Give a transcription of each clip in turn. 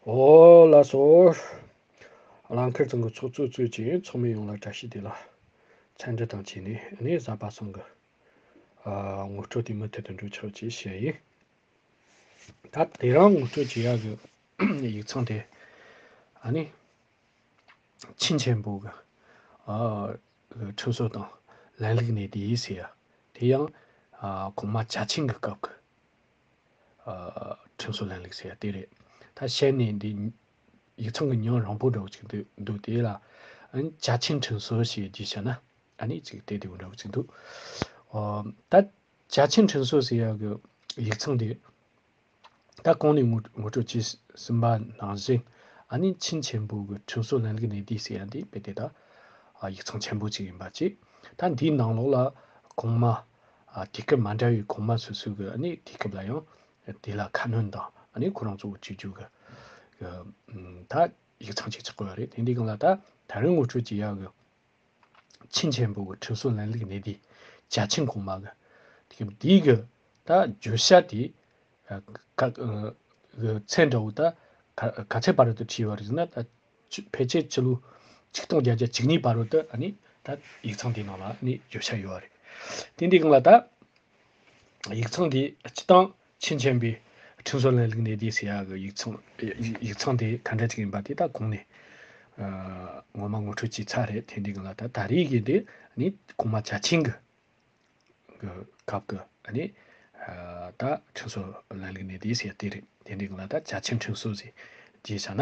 འོ་ལ་སོགས། རང་ཁེར་ཚང་གི་ཚོགས་གཙོས་གཙོས་ཀྱི་ཚོགས་མི་ཡོངས་ལ་བཀྲ་ཤིས་བདེ་ལགས། མཚན་འབྲི་དང་བཅས་ནས་ནི་གཟའ་པ་ཚང་གི། ངོ་སྤྲོད་དེ་མུ་མཐུད་དུ་འགྲོ་ཆོག་ཅེས་བཤད་ཡིན། ད་དེ་རང་ངོ་སྤྲོད་བྱེད་ཡག་གི་ཡིག་ཚང་དེ། ཨ་ནི། ཆིན་ཆེན་པོ་གི། ཁྲིམས་སྲོལ་དང་ལན་ལུགས་ནི་དེའི་ཟེར་ཡ། དེ་ཡང། གོང་མ་བྱ་ཆེན་གི་སྐབས་ཀྱི། ཁྲིམས་སྲོལ་ལམ་ལུགས་ཟེར་ཡ་དེ་རེད། ད་བཤད་ནས་འདི་ཡིག་ཚང་གི་ཉོན་རང་པོ་འདྲ་བོ་ཅིག་འདུག་འདུག་དེ་ལ། བཅའ་ཁྲིམས་ཁྲིམས་སྲོལ་ཞེས་བགྱི་བྱ་ན་ཨ་ནི་ཅིག་དེ་དེ་བོ་འདྲ་བོ་ཅིག་འདུག། ད་བཅའ་ཁྲིམས་ཁྲིམས་སྲོལ་ཟེར་ཡ་གི་ཡིག་ཚང་འདི། ད་གང་ནས་ངོ་སྤྲོད་བྱས་ཟིན་པ་ནང་བཞིན་ཨ་ནི་ཆིན་ཆེན་པོ་གི་ཁྲིམས་སྲོལ་ལམ་ལུགས་ནས་འདི་ཟེར་ཡ་འདི་དཔེ་དེ་ད། ཡིག་ཚང་ཆེན་པོ་ཅིག་ཡིན་པ་གཅིག། ད་འདིའི་ནང་ལོགས་ལ་གོང་མ། དུས་སྐབས་མ་འདྲ་བའི་གོང་མ་སོ་སོའི་གི་ནི་དུས་སྐབས་ལ་ཡང་དེ་ལ་ཁ་སྣོན་དང་ཁོ་རང་གཙོ་བོ་བྱེད་རྒྱུ་གི་ད་ཡིག་ཚང་བྱེད་ཆོག་གི་རེད་དེ་འདི་གང་ལ་ད་ད་རུང་ངོ་སྤྲོད་བྱེད་ཡག་གི། ཆིན་ཆེན་པོ་གི་ཁྲིམས་སྲོལ་ལན་ལུགས་གནད་དེ་བྱ་ཆིན་གོང་མ་གི་དུས་སྐབས་དེའི་གི་ད་བརྗོད་བྱ་དེ་ག་གི་ཚད་འདྲ་བོ་ད་ག་ཚད་བར་དུ་བྲིས་པ་རེད་ཟེར་ན་ད་གཅིག་ཕལ་ཆེར་ཕྱི་ལོ་ཆིག་སྟོང་བརྒྱད་བརྒྱ་ཇི་སྙེད་བར་དུ་ད་ཡིག་ཚང་དེའི་ནང་ལ་བརྗོད་བྱ་ཡོད་རེད། དེ་འདི་གང་ལ་ད་ཡིག་ཚང་དེ་སྤྱི་སྟངས་ཕྱིན་ཆེན་པའི་ཁྲིམས་སྲོལ་ལ་ལུགས་ནས་དེ་ཟེར་ཡག་གི་ཡིག་ཚང་དེ་ག་འདྲ་ཅིག་ཡིན་པ་དེ་ད་གོང་ནས་ངོ་མ་ངོ་འཕྲོད་བྱས་ཚར་རེད་དེ་འདི་གང་ལ་ད་ད་རེས་ཀྱི་དེ་གོང་མ་བྱ་ཆེན་གྱི་སྐབས་ཀྱི་ད་ཁྲིམས་སྲོལ་ལ་ལུགས་ནས་དེ་ཟེར་དེ་རེད་དེ་འདི་གང་ལ་ད་བྱ་ཆེན་ཁྲིམས་སྲོལ་ཟེར་རྗེས་ཆ་ན།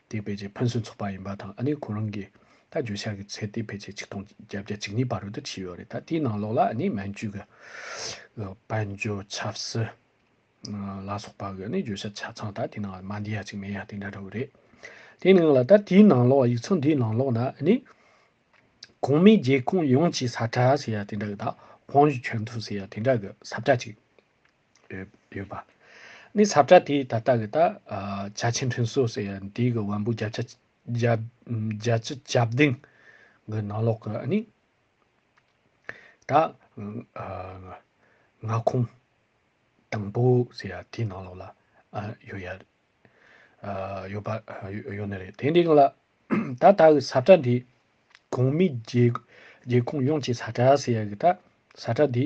དེ་ཕལ་ཆེར་ཕན་སོན་ཚོགས་པ་ཡིན་པ་དང་ཨ་ནི་ཁོ་རང་གིས་ད་འགྱོད་བཤགས་ཀྱི་ཚད་དེ་ཕལ་ཆེར་ཆིག་སྟོང་བརྒྱད་བརྒྱ་ཅིག་གཉིས་བར་རོལ་དུ་ཕྱིན་ཡོད་རེད་ད་དེའི་ནང་ལོགས་ལ་ཨ་ནི་མན་ཇུ་གི་དཔལ་འབྱོར་ཆབ་སྲིད་ལ་སོགས་པ་གི་ཨ་ནི་འགྱོད་བཤགས་ཆ་ཚང་ད་དེའི་ནང་ལ་མ་འདི་ཡ་ཅིག་མེད་ཡ་དེ་འདྲ་རོལ་རེད་དེའི་ནང་ལ་ད་དེའི་ནང་ལོགས་ཡིག་ཚང་འདིའི་ནང་ལོགས་ན་ཨ་ནི། གོང་མའི་རྒྱལ་ཁོངས་ཡོངས་ཀྱི་ས་ཁྲ་ཟེར་ཡ་དེ་འདྲ་གི་ད་བང་ཞུ་ཆོད་འཐུས་ཟེར་ཡ་དེ་འདྲ་གི་ས་བཀྲ་ཅིག་ཡོད་པ། ནི་ཟབ་ཆ་དེའི་ད་ལྟ་གི་ད་ཆ་ཆེ་འཕྲིན་བཟོ་ཟེར་ཡང་དེའི་གི་དབང་པོའི་རྒྱ་ཆ་ཁྱབ་གདེང་གི་ནང་ལོགས་ཀྱི་ནི། ད་མངའ་ཁོངས་དང་པོ་ཟེར་ཡང་དེའི་ནང་ལོགས་ལ་ཡོད་ཡ། ཡོད་པ་ཡོད་ནི་རེད་དེ་འདྲའི་གི་ལ། ད་ལྟ་གི་ཟབ་ཆ་འདི་གོང་མིས་རྒྱལ་ཁོངས་ཡོངས་ཀྱི་ཟབ་ཆ་ཟེར་ཡ་གི་ད་ཟབ་ཆ་འདི།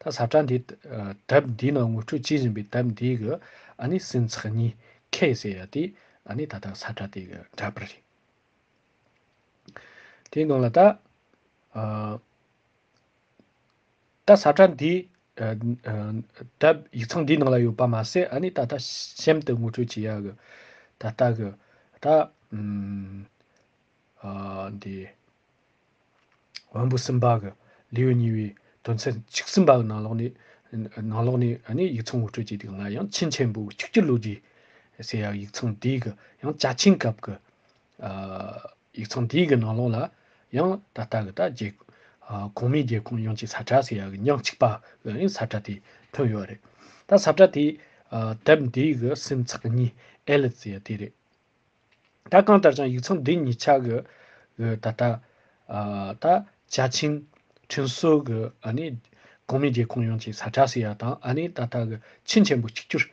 ད་བཟའ་བྲ་འདི་དབབ་འདི་ནང་ངུ་ཕྲུག་ཅི་བཞིན་པའི་དབབ་འདི་གི་ཨ་ནི་སྲིན་ཚག་གཉིས་ཁའི་ཟེར་ཡ་དེ་ཨ་ནི་ད་ད་བཟའ་བྲ་དེ་གི་འདྲ་པར་རེད། དེའི་ནང་ལ་ད་ད་བཟའ་བྲ་འདི་དབབ་ཡིག་ཚང་འདི་ནང་ལ་ཡོད་པ་མ་ཟད་ཨ་ནི་ད་ད་གཤམ་དུ་ངུ་ཕྲུག་ཅི་ཡ་གི་ད་ལྟ་གི་ད་འདི། བོན་པོ་སུམ་པ་གི་ལེའུ་གཉིས་པའི་དོན་ཚན་བཅུ་གསུམ་པའི་ནང་ལོགས་ནས་ཡིག་ཚང་འུར་ཁྲོད་ཀྱི་སྟེང་ལ་ཡང་ཆིན་ཆེན་པོ་བཅུ་བཅུ་ལོ་རྒྱུས་ཟེར་ཡང་ཡིག་ཚང་དེའི་གི་ཡང་བཅའ་ཆིན་སྐབས་ཀྱི་ཡིག་ཚང་དེའི་གི་ནང་ལོགས་ལ་ཡང་ད་ལྟ་གི་ད་རྒྱལ་གོང་མའི་རྒྱལ་ཁོངས་ཡོངས་ཀྱི་ས་བཀྲ་ཟེར་ཡ་གི་ཉག་གཅིག་པ་གི་ས་བཀྲ་དེ་ཐོན་ཡོད་རེད་ད་ས་བཀྲ་དེའི་དེབ་འདིའི་གི་སིམ་ཚགས་གཉིས་ཨེ་ལི་ཟེར་ཡ་དེ་རེད། ད་གང་ལྟར་ཀྱང་ཡིག་ཚང་འདི་ཉིད་ཆགས་ཀྱི་ཡོད་ད་ལྟ། ད་བྱ་ཆིང་ཁྲིན་སོགས་ཀྱི་གོང་མའི་རྒྱལ་ཁོངས་ཡོངས་ཀྱི་ས་ཁྲ་སི་ཡ་དང་ད་ལྟ་གི་ཆིན་ཆེན་པོ་གཅིག་གྱུར་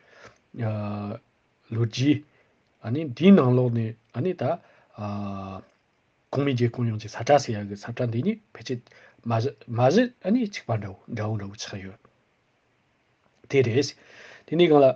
ལོ་རྒྱུས། དེའི་ནང་ལོགས་ནས་ད་གོང་མའི་རྒྱལ་ཁོངས་ཡོངས་ཀྱི་ས་ཁྲ་སི་ཡ་གི་ས་ཁྲ་འདི་ཉིད་ཕལ་ཆེར་མ་གཞི་གཅིག་པ་འདྲ་བོ་འདྲ་བོ་ཆགས་ཡོད། དེ་རེད། དེ་ནས་གང་ལ།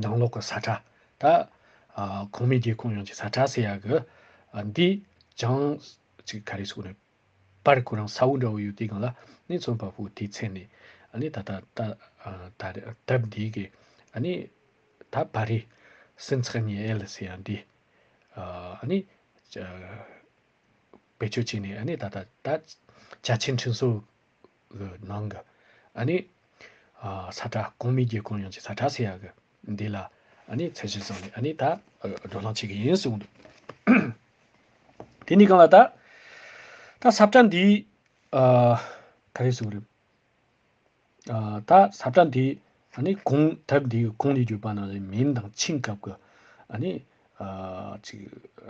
ནང་ལོག་གི་ས་ཁྲ་ད། གོང་མའི་རྒྱལ་ཁོངས་ཡོངས་ཀྱི་ས་ཁྲ་ཟེར་ཡག་གི། འདི་ཅང་ཅིག་ག་རེ་སོགས་ནས། པར་ཁོ་རང་ས་འོག་འདྲ་བོ་ཡོད་དེ་གང་ལ་ནི་མཚོན་པ་པོ་དེའི་མཚན་ནས། ནི་ད་ད་ད། དེབ་འདི་གི། ནི། ད་བ་རི། སིན་ཚག་ཉི་ཨེ་ལི་སེ་ཡ་འདི། ནི། བེད་སྤྱོད་བྱས་ནས་ནི་ད་ད་ད། བྱ་ཆེན་འཕྲིན་གསོ། གི་ནང་གི་ཨ་ནི། ས་ཁྲ་གོང་མི་རྒྱལ་གོང་ཡོངས་ཀྱི་ས་ཁྲ་ཟེར་ཡག་གི་འདི་ལ་ཨ་ནི་ཚད་གཞི་བཟང་ནས་ཨ་ནི་ད་སྒྲོག་ལྷང་བྱེད་ཀྱི་ཡིན་གསུངས་འདུག། དེ་ནི་གང་ལ་ད། ད་ས་ཁྲ་འདི། ག་རེ་གསུངས་རེད། ད་ས་ཁྲ་འདི་ཨ་ནི་གོང་དེབ་འདི་གོང་ནས་བརྒྱུད་པ་ན་རེ་མིན་དང་ཕྱིན་སྐབས་ཀྱི་ཨ་ནི། ཅིག་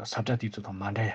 ས་ཁྲ་དེ་ཚོ་དང་མ་འདྲ་ཡ།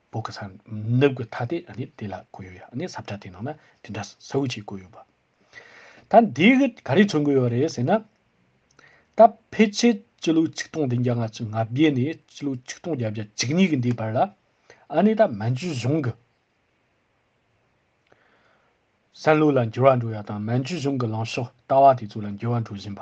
བོད་ཀྱི་ཚང་ནུབ་ཀྱི་ཐ་དད་ནི་དེ་ལ་གོ་ཡོད་ཡ་ནི་ཟབ་ཆ་དེ་ནང་ན་དེ་འདྲ་སོའུ་ཆེ་གོ་ཡོད་པ། ད་འདི་གི་ག་རེ་མཚོན་གི་ཡོད་རེད་ཟེར་ན། ད་ཕལ་ཆེར་སྤྱི་ལོའི་ཆིག་སྟོང་བདུན་བརྒྱ་ང་གཅིག་ང་བརྒྱད་ནས་སྤྱི་ལོའི་ཆིག་སྟོང་བརྒྱད་བརྒྱ་གཅིག་གཉིས་ཀྱི་འདིའི་བར་ལ་ཨ་ནི་ད་མན་ཇུའི་གཞུང་གི་བསམ་བློ་ལ་འགྱུར་བ་འགྲོ་ཡ་དང་མན་ཇུའི་གཞུང་གི་ལངས་ཕྱོགས་ལྟ་བ་དེ་ཚོ་ལ་འགྱུར་བ་འགྲོ་བཞིན་པ།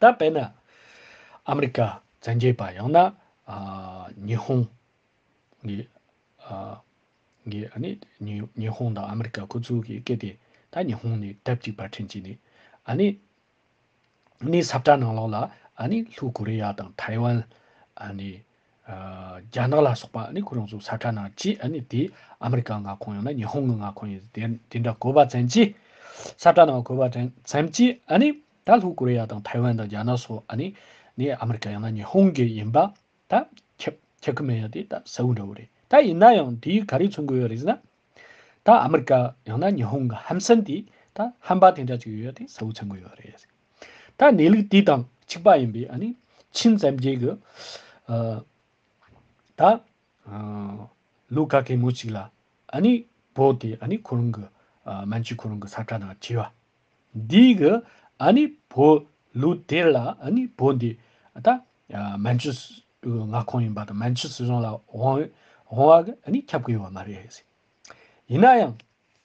ད་དཔེར་ན་ཨ་མི་རི་ཀ་བཙན་རྒྱལ་པ་ཡང་ན་ཉི་ཧོང་གི་ཉི་ཧོང་དང་ཨ་མི་རི་ཀ་ཁོ་ཚུལ་གྱི་སྐད་དེ་ད་ཉི་ཧོང་ནས་དེབ་གཅིག་པར་འཕྲིན་བྱས་ནས་ཨ་ནི་ནི་སབ་གྲ་ནང་ལོགས་ལ་ཨ་ནི་ལྷུ་ཀོ་རི་ཡ་དང་ཐའི་ཝན་ཨ་ནི་རྒྱ་ནག་ལ་སོགས་པ་ནི་ཁོ་རང་ཚོ་ས་ཁྲ་ནང་བཅས་དེ་ཨ་མི་རི་ཀ་མངའ་ཁོངས་ཡང་ན་ཉི་ཧོང་གི་མངའ་ཁོངས་ཡིན་དེ་འདྲ་གོ་བ་ཙམ་གྱིས་ས་ཁྲ་ནང་གོ་བ་ཙམ་གྱིས་ནི་ད་ལྷོ་ཀོ་རི་ཡ་དང་ཐའེ་ཝན་དང་རྒྱ་ནག་སོགས་ནི་ནི་ཨ་མི་རི་ཀ་ཡང་ན་ཉི་ཧོང་གི་ཡིན་པ་ད་ཁྱབ་ཁྱབ་ཀྱི་མེད་ཡ་དེ་ད་གསལ་བོ་འདྲ་བོ་རེད་ད་ཡིན་ན་ཡང་དེ་ག་རེ་མཚོན་དགོས་ཡོད་རེད་ཟེར་ན་ད་ཨ་མི་རི་ཀ་ཡང་ན་ཉི་ཧོང་གི་ཧམ་སེམས་དེ་ད་ཧམ་པ་དེ་འདྲ་ཅིག་ཡོད་ཡ་དེ་གསལ་བོ་མཚོན་དགོས་ཡོད་རེད། ད་གནས་ལུགས་དེ་དང་གཅིག་པ་ཡིན་པས་ནི་ཕྱིན་ཙམ་རྒྱས་ཀྱི། ད་ལོ་ག་གེ་མོ་ཅིག་ལ་ནི་བོད་དེ་ནི་ཁོ་རང་གི་མན་ཇུ་ཁོ་རང་གི་ས་ཁྲ་ནང་བྲིས་པ། འདི་གི་ནི་བོད་ལོ་དེར་ལ་ནི་བོད་འདི་ད་མན་ཇུ་མངའ་ཁོངས་ཡིན་པ་དང་མན་ཇུ་སྲིད་གཞུང་ལ་དབང་བ་གི་ནི་ཁྱབ་ཀྱི་ཡོད་པ་མ་རེད། ཡིན་ན་ཡང།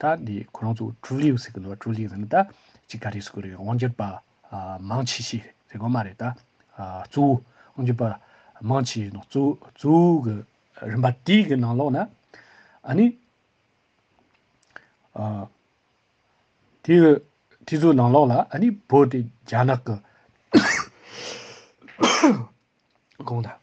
ད་ནི་ཁོ་རང་ཚོ་ཀྲུའུ་ལིའུ་ཟེར་གི་འདུག་ཀྲུའུ་ལིའུ་ཟེར་ནི་ད་ཅི་ག་རེ་ཟེར་གི་རེད་དབང་སྒྱུར་པ་མང་ཆེ་ཤོས་ཟེར་གི་མ་རེད་ད། གཙོ་བོ་དབང་སྒྱུར་པ་མང་ཆེ་ཡིན་གཙོ་བོ་གི་རིམ་པ་དེའི་གི་ནང་ལོགས་ན་ཨ་ནི། དེའི་གི་དེ་ཚོའི་ནང་ལོགས་ལ་ཨ་ནི་བོད་དེ་རྒྱ་ནག་གི་གང་ལྟ།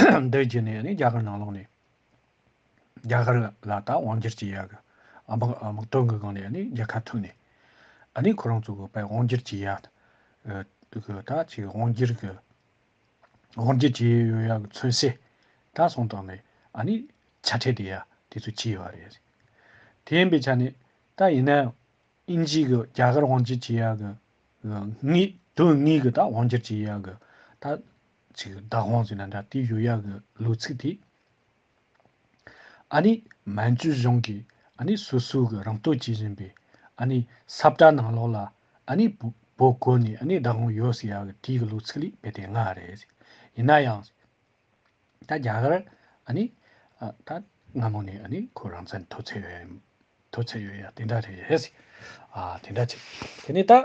འདི་བརྒྱུད་ནས་ནི་རྒྱ་གར་ནང་ལོགས་ནས་རྒྱ་གར་ལ་ད་དབང་སྒྱུར་གྱི་ཡག་དམག་དོན་གི་སྒང་ནས་ནི་རྒྱལ་ཁ་ཐུབ་ནས་ནི་ཁོ་རང་ཚོ་གི་དབང་སྒྱུར་གྱི་ཡག་ད་ཅི་དབང་སྒྱུར་གི་དབང་སྒྱུར་གྱི་ཡོད་ཡག་མཚོན་བྱེད་ད་སོང་དང་ནི་ནི་ཆ་ཕྲད་དེ་ཡ་དེ་ཚོ་གྱི་ཡོད་རེད་དེ་ཡིན་པའི་ཆ་ནས་ད་ཡིན་ན་ཨིན་ཇིའི་གི་རྒྱ་གར་དབང་སྒྱུར་གྱི་ཡག་གི་དོན་དངོས་གི་ད་དབང་སྒྱུར་གྱི་ཡག་གི་ད་ཚིག་གི་བདག་དབང་ཟེར་ན་འདྲ་དེའི་ཡོད་ཡག་གི་ལོ་ཚིག་དེ། ཨ་ནི་མན་ཇུ་གཞུང་གིས་ཨ་ནི་སོ་སོའི་གི་རང་སྟོད་བྱེད་བཞིན་པའི་ཨ་ནི་སབ་བཀྲ་ནང་ལོགས་ལ་ཨ་ནི་བོད་བསྐོར་ནས་ཨ་ནི་བདག་དབང་ཡོད་ཟེར་ཡག་གི་དེའི་གི་ལོ་ཚིག་ལས་བེད་དེ་ང་རེད། ཡིན་ན་ཡང། ད་རྒྱ་གར་ཨ་ནི་ད་སྔ་མོ་ནས་ཨ་ནི་ཁོ་རང་ཚན་མཐོ་ཚད་ཡོད་ཡག་དེ་འདྲ་རེད། ཨ་དེ་འདྲ་ཆེ། དེ་ནས་ད།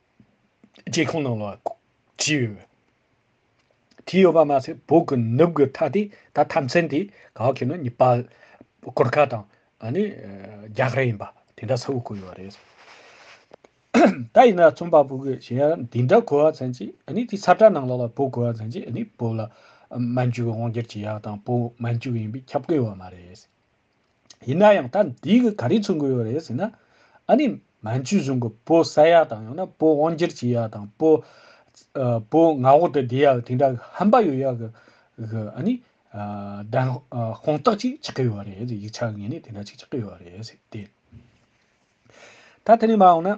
ལྕེ་ཁོང་ནང་ལ་བྱིས་ཡོད། བྱིས་ཡོད་པ་མ་ཟད་བོད་ཀྱི་ནུབ་གྱི་མཐའ་དེ་ད་ཐམས་ཅན་དེ་གང་གི་ནི་ནི་པ་གུར་ཁ་དང་ནི་རྒྱ་གར་ཡིན་པ་དེ་འདྲ་ཚ་བོ་གོ་ཡོད་པ་རེད། ད་ཡིན་ན་རྩོམ་པ་པོ་གིས་གཞན་ཡང་འདི་འདྲ་གོ་བ་ཚན་ཅི་ནི་དེ་ཚ་དྲ་ནང་ལ་ལ་བོད་གོ་བ་ཚན་ཅི་ནི་བོད་ལ་མན་ཇུ་གི་དབང་སྒྱུར་གྱི་ཡག་དང་བོད་མན་ཇུ་གི་ཡིན་པའི་ཁྱབ་བཀོད་ཡོད་པ་མ་རེད། ཡིན་ན་ཡང་ད་འདི་གི་ག་རེ་ཚུགས་གི་ཡོད་རེད་ཟེར་ན། ཨ་ནི་མན་ཇུའི་གཞུང་གི་བོ་བསད་ཡག་དང་ཡང་ན་བོ་དབང་སྒྱུར་བྱེད་ཡག་དང་བོ། བོ་ང་འོག་ཏུ་བསྡད་ཡག་དེ་འདྲ་ཧམ་པ་ཡོད་ཡག་གི་ཨ་ནི། བདེན་དཔང་རྟགས་ཅིག་ཆགས་ཀི་ཡོད་རེད་ཟེར་ཡིག་ཆ་ངེས་ནས་དེ་འདྲ་ཅིག་ཆགས་ཀི་ཡོད་རེད་ཟེར་ཏེ། ད་དེ་ནས་མ་འོངས་ན།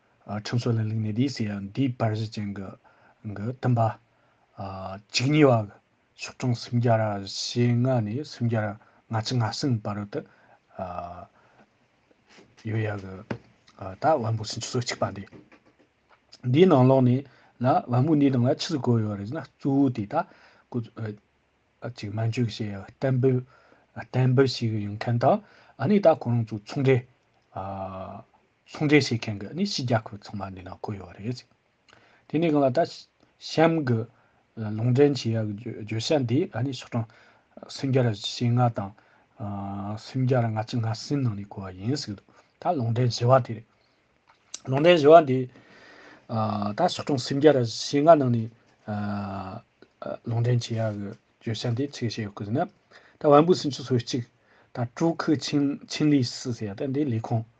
ཁྲིམས་སྲོལ་ལ་ལུགས་ནས་དེའི་སྲས་ཡང་དེའི་བར་གཞི་ཅན་གྱི། བསྟན་པ། གཅིག་ཉེ་བ། ཕྱོགས་སྐྱོང་སུམ་བརྒྱ་ར་ཞེ་ལྔ་ནས་སུམ་བརྒྱ་ར་ལྔ་ཅི་ལྔ་གསུམ་བར་དུ། ཡོད་ཡ་གི། ད་བན་བོན་སུམ་ཅུ་སོ་གཅིག་པ་འདི། འདིའི་ནང་ལོགས་ནས་ལ་བན་བོན་འདིའི་ནང་ལ་ཕྱི་སུ་གོ་ཡོད་རེད་ཟེར་ན་གཙོ་བོ་དེ་ད་ཀོ། གཅིག་མན་ཇུ་གི་ཞེས་བསྟན་པའི། བསྟན་པ་ཞིག་ཡིན་མཁན་དང་ཨ་ནི་ད་ཁོང་རང་ཚོ་ཚོང་འབྲེལ། ཟུང་འབྲེལ་བྱེད་མཁན་གྱི་ནི་ཕྱི་རྒྱལ་ཁུལ་ཚང་མ་འདི་ན་བཀོད་ཡོད་པ་རེད། དེ་ནས་གང་ལ་ད་གཤམ་གྱི་ལུང་འདྲེན་བྱེད་ཡག་གི་བརྗོད་བྱ་འདི་ཕྱོགས་གྲངས་སུམ་བརྒྱ་རེ་ཞེ་ལྔ་དང། སུམ་བརྒྱ་རེ་ལྔ་བཅུ་ལྔ་གསུམ་ནང་ནས་བཀོད་པ་ཡིན་ཟེར་གི་འདུག་ད་ལུང་འདྲེན་བྱེད་པ་དེ་རེད། ལུང་འདྲེན་བྱེད་པ་འདི་ད་ཕྱོགས་གྲངས་སུམ་བརྒྱ་རེ་ཞེ་ལྔ་ནང་ནས་ལུང་འདྲེན་བྱེད་ཡག་གི་བརྗོད་བྱ་འདི་ཚིག་བཤད་ཡོད་ཟེར་ན། ད་བན་བོན་སུམ་ཅུ་སོ་གཅིག། ད་སྤྲུལ་སྐུ་ཆིང་ལི་སི་ཟེར་ཡག་ད་འདི་ལས་ཁུངས།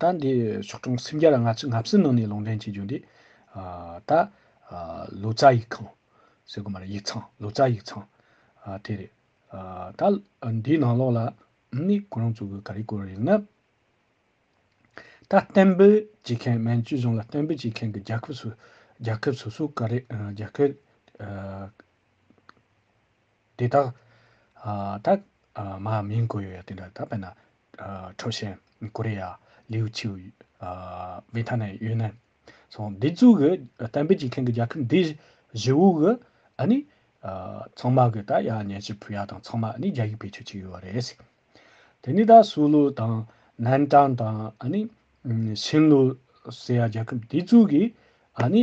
ད་འདི་ཕྱོགས་སྐྱོང་སེམས་རྒྱ་ལ་ང་ཚོས་ངྷ་བསིལ་ནང་ནས་ལུང་འདྲེན་བྱེད་རྒྱུ་འདི། ད་ལོ་ཙཱ་ཡིག་ཁང་ཟེར་དགོས་མ་རེད་ཡིག་ཚང་ལོ་ཙཱ་ཡིག་ཚང་དེ་རེད། ད་འདིའི་ནང་ལོགས་ལ་ནི་ཁོ་རང་ཚོ་གི་ག་རེ་བཀོད་རེད་ན། ད་གཏན་འབེབས་བྱེད་མཁན་མན་ཇུ་རྫོང་ལ་གཏན་འབེབས་བྱེད་མཁན་གྱི་རྒྱལ་ཁབ་སོ་རྒྱལ་ཁབ་སོ་སོ་ག་རེ་རྒྱལ་ཁབ། དེ་དག། ཐ། མ་མིང་གོ་ཡོད་ཡ། ད་པེ་ན། ཁྲོ་ཞན། ཀོ་རེ་ཡ། ལིའུ་ཆིའུ། བི་ཐ་ནན་ཡོན་ནན། སོང་འདི་ཚུགས་གི་གཏན་འབེབས་ཀྱི་ཁེང་གི་རྒྱལ་ཁབ་འདི། བཞི་བོ་གི། ཨ་ནི། ཚང་མ་གི་ད་ཡ་ཉན་ཤི་བུ་ཡ་དང་ཚང་མ་ནི་རྒྱ་ཡིག་བེད་སྤྱོད་ཀྱི་ཡོད་རེད་སི། དེ་ནི་ད་སུའུ་ལུའུ་དང། ནན་ཀྲང་དང་ཨ་ནི། ཤིན་ལུའུ། སི་ཡ་རྒྱལ་ཁབ་འདི་ཚུགས་གི། ཨ་ནི།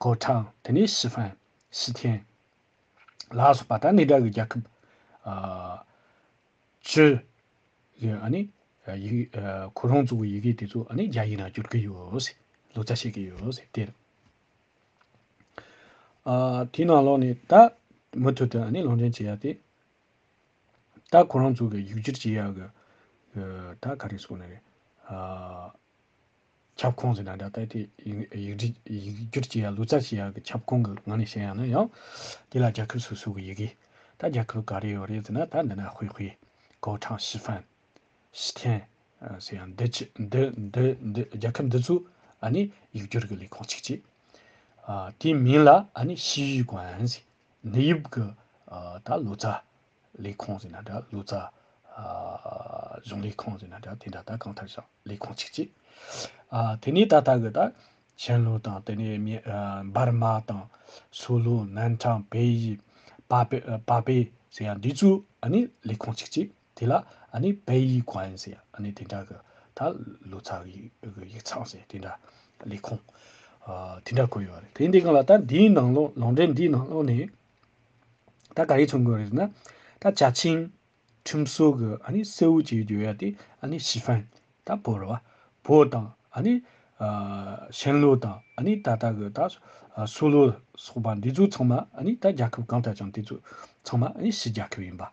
ཀོའུ་ཐང། དེ་ནས་ཞི་ཧྥན། ཞི་ཐན། ལ་སོགས་པ་དང་གནས་འདྲ་བའི་རྒྱལ་ཁབ། ཅི། ཁོ་རང་ཚོའི་ཡི་གེ་དེ་ཚོ་རྒྱ་ཡིག་ནང་བསྒྱུར་གྱི་ཡོད། ལོ་ཙཱ་བྱེད་ཀྱི་ཡོད། དེར། དེའི་ནང་ལོགས་ནས་ད། མུ་མཐུད་དུ་གླིང་ཕྲན་བྱེད་ཡ་དེ། ད་ཁོ་རང་ཚོའི་ཡིག་སྒྱུར་བྱེད་ཡ་གི། ད་ག་རེ་སོང་ནི་རེད། ཁྱབ་ཁོངས་སུ་ན་ད་ལྟ་ཡིག་སྒྱུར་བྱེད་ཡ་ལུས་རྩལ་བྱེད་ཡ་གི་ཁྱབ་ཁོངས་ཀྱི་ངང་ནས་བཤད་ཡ་ན་ཡང། དེ་ལ་རྒྱལ་ཁབ་སོ་སོ་གི་ཡི་གེ། ད་རྒྱལ་ཁབ་ག་རེ་ཡོད་རེད་ཟེར་ན་ད་འདི་ན་ཧུའེ་ཧུའེ། ཀའོ་ཁྲང་ཞི་ཧྥན། ཞི་ཐན། ཟེར་ཡང་འདི་ཆི་འདི་འདི་འདི་རྒྱལ་ཁབ་འདི་ཚོས་ཨ་ནི་ཡིག་སྒྱུར་གྱི་ལས་ཁུངས་གཅིག་བྱེད། དེའི་མིང་ལ་ཨ་ནི་ཤིས་ཡུས་ཀོན། ནི་ཡིབ་ཀི། ད་ལུས་རྩལ། ལས་ཁུངས་ཟེར་ན་འདྲ་ལུས་རྩལ། གཞུང་ལས་ཁང་ཟེར་ན་འདྲ་དེ་འདྲ་ད་གང་ཐད་ཞིང་ལས་ཁང་ཆིག་གཅིག། དེ་ནས་ད་ལྟ་གི་ད་ཞིན་ལུའུ་དང་དེ་ནས་འབར་མ་དང། སུའུ་ལུའུ་ནན་ཁྲང་བལ་ཡུལ། པ་པེ་ཟེར་ཡང་འདི་ཚོའི་ཨ་ནི་ལས་ཁང་ཆིག་གཅིག་དེ་ལ་ཨ་ནི་བལ་ཡུལ་གོན་ཟེར་ཨ་ནི་དེ་འདྲ་གི་ད་ལུས་རྩལ་གི་ཡིག་ཚང་ཟེར་དེ་འདྲ་ལས་ཁུངས། དེ་འདྲ་བཀོད་ཡོད་རེད་དེ་འདི་ག་ལ་ད་འདིའི་ནང་ལོ་ལོ་འབྲེལ་འདིའི་ནང་ལོ་ནས། ད་ག་རེ་ཚོང་གི་རེད་ན། ད་བྱ་ཆིང། ཁྲིམས་སྲོལ་གི་ཨ་ནི་སེ་འུ་ཅིག་འགྱོད་ཡ་དེ་ཨ་ནི་ཞི་ཧྥན། ད་བོད་ར་བ། བོད་དང་ཨ་ནི། ཤན་ལུའུ་དང་ཨ་ནི་ད་ལྟ་གི་ད། སུའུ་ལུའུ་སོགས་པ་འདི་ཚོ་ཚང་མ་ཨ་ནི་ད་རྒྱལ་ཁབ་གང་ལྟར་ཀྱང་དེ་ཚོ་ཚང་མ་ཨ་ནི་ཕྱི་རྒྱལ་ཁབ་ཡིན་པ།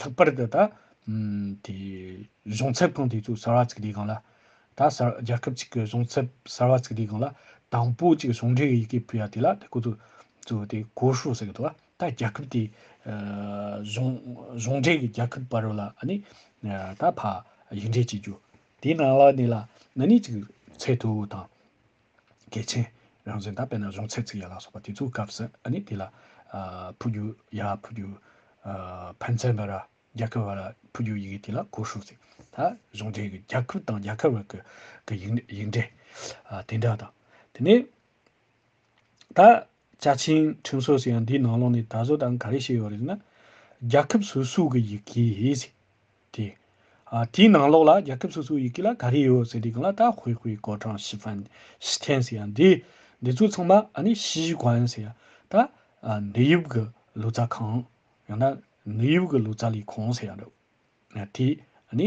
ལྷག་པར་དུ་ད། དེ། གཞུང་ཚབ་ཁང་དེ་ཚོའི་གསར་བ་བཙུགས་དུས་གང་ལ། ད་གསར་རྒྱལ་ཁབ་ཅིག་གི་གཞུང་ཚབ་གསར་བ་བཙུགས་དུས་གང་ལ། དང་པོ་ཅིག་གཞུང་འབྲེལ་ཡི་གེ་ཕུལ་ཡ་དེ་ལ་དེ་ཁོ་ཚོ། ཚོ་དེ་གོ་ཧྲུའུ་ཟེར་གི་འདུག་ད་རྒྱལ་ཁབ་དེ། གཞུང། གཞུང་འབྲེལ་གྱི་རྒྱལ་ཁབ་བ་རུ་ལ་ཨ་ནི། ད་ཕ། ཡིག་འབྲེལ་བྱེད་རྒྱུ། དེའི་ནང་ལ་ནི་ལ་ཨ་ནི་ཅིག། ཚད་མཐོའི་དང། གལ་ཆེན། རང་བཟོའི་མདའ་དཔེར་ན་གཞུང་ཚད་ཚིག་ཡ་ལ་སོགས་པ་དེ་ཚོའི་སྐབས་སུ་ཨ་ནི་དེ་ལ། ཕུ་རྒྱུ། ཡ་ཕུ་རྒྱུ། ཕན་ཚན་བ་ར། རྒྱ་ཁུ་བ་ར་ཕུ་རྒྱུ་ཡི་གེ་དེ་ལ་གོ་ཧྲུག་ཚིག་ད་གཞུང་འབྲེལ་གྱི་རྒྱ་ཁུ་དང་རྒྱ་ཁ་བ་ཀུ་གི་ཡིག་འབྲེལ། དེ་འདྲ་དང། དེ་ནས། ད། བཅའ་ཁྲིམས་ཁྲིམས་སྲོལ་ཞིག་ཡང་འདིའི་ནང་ལོགས་ནས་ད་གཟོད་ད་ག་རེ་བྱས་ཡོད་རེད་ན། རྒྱལ་ཁབ་སོ་སོའི་གི་ཡི་གེ། དེ། དེའི་ནང་ལོགས་ལ་རྒྱལ་ཁབ་སོ་སོའི་ཡི་གེ་ལ་ག་རེ་ཡོད་ཟེར་དེ་གང་ལ་ད་ཧུའེ་ཧུའེ་གོ་ཀྲང་ཞི་ཧྥན་ཞི་ཐན་ཟེར་ཡང་འདི། འདི་ཚོ་ཚང་མ་ཨ་ནི་ཞི་གོན་ཟེར་ཡང་ད། འདི་ཡུབ་གི་ལུས་རྩ་ཁང། ཡང་ན་འདི་ཡུབ་གི་ལུས་རྩ་ལས་ཁང་ཟེར་ཡང་འགྲོ། དེ་ཨ་ནི་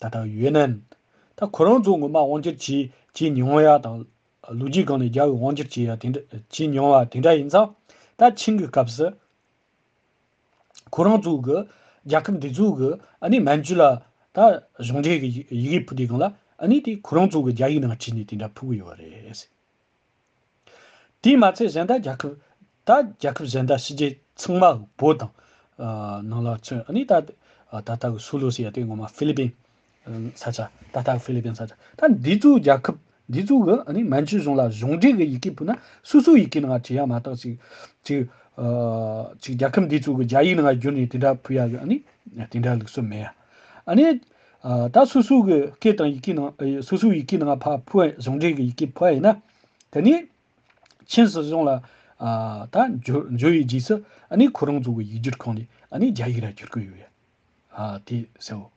ད་ལྟ་ཡོད་ནན་ད་ཁོ་རང་ཚོ་ངོ་མ་དབང་སྒྱུར་བྱེད་བྱེད་མྱོང་ཡ་དང། ལོ་རྒྱུས་སྒང་ནས་རྒྱ་བོད་དབང་སྒྱུར་བྱེད་ཡ་དེ་འདྲ་བྱེད་མྱོང་བ་དེ་འདྲ་ཡིན་ཙང་ད་ཕྱིན་གི་སྐབས་སུ། ཁོ་རང་ཚོ་གི་རྒྱལ་ཁབ་འདི་ཚོ་གི་ཨ་ནི་མན་ཇུ་ལ་ད་གཞུང་འབྲེལ་གི་ཡི་གེ་ཕུལ་དེ་གང་ལ་ཨ་ནི་དེ་ཁོ་རང་ཚོ་གི་རྒྱ་ཡིག་ནང་བྲིས་ནས་དེ་འདྲ་ཕུལ་གི་ཡོད་རེད། དེས་མ་ཚད་གཞན་དག་རྒྱལ་ཁབ། ད་རྒྱལ་ཁབ་གཞན་དག་ཕྱི་རྒྱལ་ཚང་མ་བོད་དང། ནང་ལ་མཚོན་ཨ་ནི་ད། ད་ལྟ་གི་སུའུ་ལུ་སི་ཡ་དེ་ངོ་མ་ཧྥི་ལི་པིན། ས་ཆ། ད་ལྟ་གི་ཧྥི་ལི་པིན་ས་ཆ། ད་འདི་ཚོའི་རྒྱལ་ཁབ། འདི་ཚོའི་གི་ཨ་ནི་མན་ཇུ་གཞུང་ལ་གཞུང་འབྲེལ་གི་ཡི་གེ་ཕུལ་ན་སུ་སུའི་ཡི་གེ་ནང་བྲིས་ཡ་མ་གཏགས་ཅིག། ཅིག། ཅིག་རྒྱལ་ཁབ་འདི་ཚོའི་གི་རྒྱ་ཡིག་ནང་བསྒྱུར་ནས་དེ་འདྲ་ཕུལ་ཡ་གི་ཨ་ནི། དེ་འདྲ་ལུགས་སུ་མེད་ཡ། ཨ་ནི། ད་སོ་སོའི་གི་སྐད་དང་ཡི་གེ་ནང་སོ་སོའི་ཡི་གེ་ནང་ཕ་ཕུ་བས་གཞུང་འབྲེལ་གི་ཡི་གེ་ཕུ་བ་ཡིན་ན། དེ་ནི། མཁྱེན་སོ་སོང་ལ། ད་འཇོ་འཇོ་ཡི་རྗེས་སུ་ཨ་ནི་ཁོ་རང་ཚོ་གི་ཡིག་སྒྱུར་ཁང་ནས་ཨ་ནི་རྒྱ་ཡིག་ར་སྒྱུར་གི་ཡོད་ཡ། དེ་སེའོ།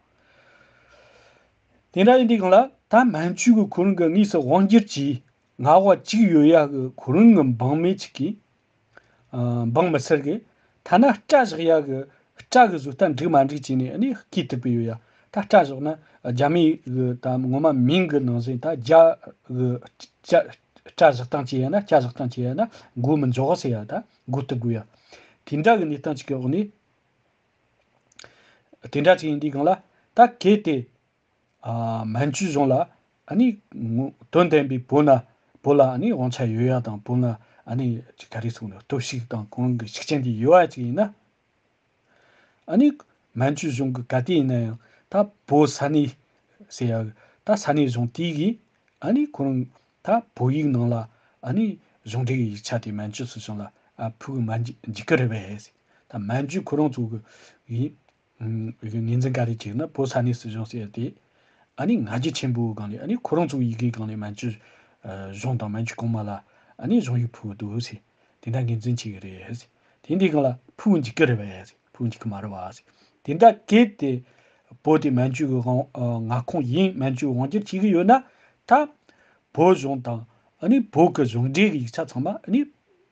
དེ་འདྲ་ཡིན་དུས་གང་ལ་ད་མན་ཇུས་གི་ཁོ་རང་གི་དངོས་སུ་དབང་སྒྱུར་གྱིས་ང་བ་གཅིག་ཡོད་ཡ་གི་ཁོ་རང་གི་འབངས་མི་ཅིག་གིས་འབངས་མི་སེར་གྱིས་ཐ་ན་སྐྲ་བཞག་ཡག་གི་སྐྲ་གི་གཟུགས་ལྟ་འགྲིག་མ་འགྲིག་བྱས་ནས་ནི་སྐྱིད་ཐུབ་ཀྱི་ཡོད་ཡ། ད་སྐྲ་བཞག་ན་རྒྱ་མི་གི་དམ་ངོ་མ་མིང་གི་ནང་གསེས་ད་རྒྱ་གི་སྐྲ་བཞག་སྟངས་བྱས་ཡ་ན་སྐྱ་བཞག་སྟངས་བྱས་ཡ་ན་སྒུག་མི་འཇོག་ཟེར་ཡ་ད་སྒུག་ཐུབ་དགོས་ཡ། དེ་འདྲ་གི་གནས་སྟངས་ཅིག་གི་འོག་ནས། དེ་འདྲ་ཅིག་ཡིན་དུས་གང་ལ་ད་གལ་ཏེ། མན་ཇུ་གཞུང་ལ་ནི་དོན་ལྡན་པའི་བོད་ན་བོད་ལ་ནི་དབང་ཆ་ཡོད་ཡ་དང་བོད་ན་ནི་ག་རེ་སོང་ནི་སྟོབས་ཤིག་དང་གང་གི་ཤུགས་རྐྱེན་དེ་ཡོད་ཡ་ཅིག་ཡིན་ན་ནི་མན་ཇུ་གཞུང་གི་ག་དེ་ཡིན་ན་ཡང་ད་བོད་ས་གནས་ཟེར་ཡ་ད་ས་གནས་གཞུང་དེ་གིས་ནི་ཁོ་རང་ད་བོད་ཡིག་ནང་ལ་ནི་གཞུང་འབྲེལ་གྱི་ཡིག་ཆ་དེ་མན་ཇུ་སུ་གཞུང་ལ་ཕུལ་གི་མ་འཇིག་གི་རེད་པས་ད་མན་ཇུ་ཁོ་རང་ཚོ་གི་ཡིག་ངོས་འཛིན་ག་རེ་བྱས་ན་བོད་ས་གནས་སྲིད་གཞུང་ཟེར་ཏེ། ཨ་ནི་ང་རྒྱལ་ཆེན་པོའི་སྒང་ནས་ཨ་ནི་ཁོ་རང་ཚོའི་ཡི་གེའི་སྒང་ནས་མན་ཇུ་གཞུང་དང་མན་ཇུ་གོང་མ་ལ་ཨ་ནི་གཞུང་ཡིག་ཕུལ་བ་འདུག་ཟེར། དེ་འདྲ་ངོས་འཛིན་བྱས་ཀྱི་རེད་ཟེར། དེ་འདི་གང་ལ་ཕུལ་འཇུག་གི་རེད་བ་ཟེར་ཕུལ་འཇུག་གི་མ་རེད་བ་ཟེར། དེ་འདྲ་གལ་ཏེ་བོད་དེ་མན་ཇུའི་མངའ་ཁོངས་ཡིན་མན་ཇུའི་དབང་སྒྱུར་བྱེད་ཀྱི་ཡོད་ན་ད། བོད་གཞུང་དང་ཨ་ནི་བོད་ཀྱི་གཞུང་འབྲེལ་གྱི་ཡིག་ཆ་ཚང་མ་ཨ་ནི།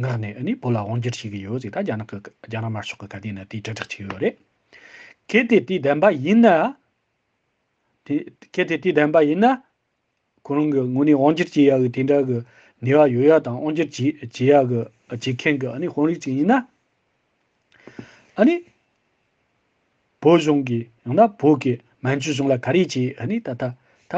ངག་ནས་ཨ་ནི་བོད་ལ་དབང་བསྒྱུར་བྱེད་ཀྱི་ཡོད་ཟིག་ད་རྒྱ་ནག་གི་རྒྱ་ནག་དམར་ཤོག་གི་དགའ་ལྡན་ནི་དེ་དྲིལ་བསྒྲགས་བྱེད་ཀྱི་ཡོད་རེད། གལ་ཏེ་དེ་བདེན་པ་ཡིན་ན། དེ་གལ་ཏེ་དེ་བདེན་པ་ཡིན་ན། ཁོ་རང་གི་ངོ་ནས་དབང་བསྒྱུར་བྱེད་ཡག་གི་དེ་འདྲ་གི་ནུས་བ་ཡོད་ཡག་དང་དབང་བསྒྱུར་བྱེད་བྱེད་ཡག་གི་བྱེད་མཁན་གི་ཨ་ནི་དཔོན་རིགས་ཅིག་ཡིན་ན། ཨཱ་ནི། བོད་གཞུང་གིས་ཡང་ན་བོད་ཀྱི་མན་ཇུ་གཞུང་ལ་ག་རེ་བྱས་ཨཱ་ནི་ད་ད་ད་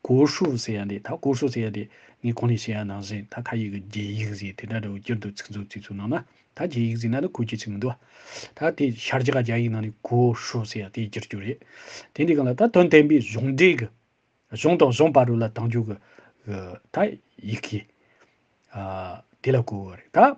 གོ་ཧྲུའུ་ཟེར་ཡ་འདི་ད་གོ་ཧྲུའུ་ཟེར་ཡ་འདི་ངས་གོང་ནས་བཤད་ཡ་ནང་བཞིན་ད་ཁ་ཡིག་གི་རྒྱའི་ཡིག་གཟིགས་དེ་འདྲ་རེའུ་གྱེར་འདུག་ཚིག་མཛོད་ཚིག་མཛོད་ནང་ན་ད་རྒྱའི་ཡིག་གཟིགས་ན་ནི་གོ་རྒྱུ་ཚིག་མི་འདུག་ཨ། ད་དེ་ཤར་རྒྱ་ག་རྒྱ་ཡིག་ནང་ནས་གོ་ཧྲུའུ་ཟེར་ཡ་དེ་གྱེར་རྒྱུ་རེད། དེ་འདི་གང་ལ་ད་དོན་བསྟན་པའི་གཞུང་འབྲེལ་གྱི་གཞུང་དང་གཞུང་བར་རུ་ལ་དང་རྒྱུ་གི་གི་ད་ཡིག་གིས་ཨཱ་དེ་ལ་གོ་བ་རེད་ད།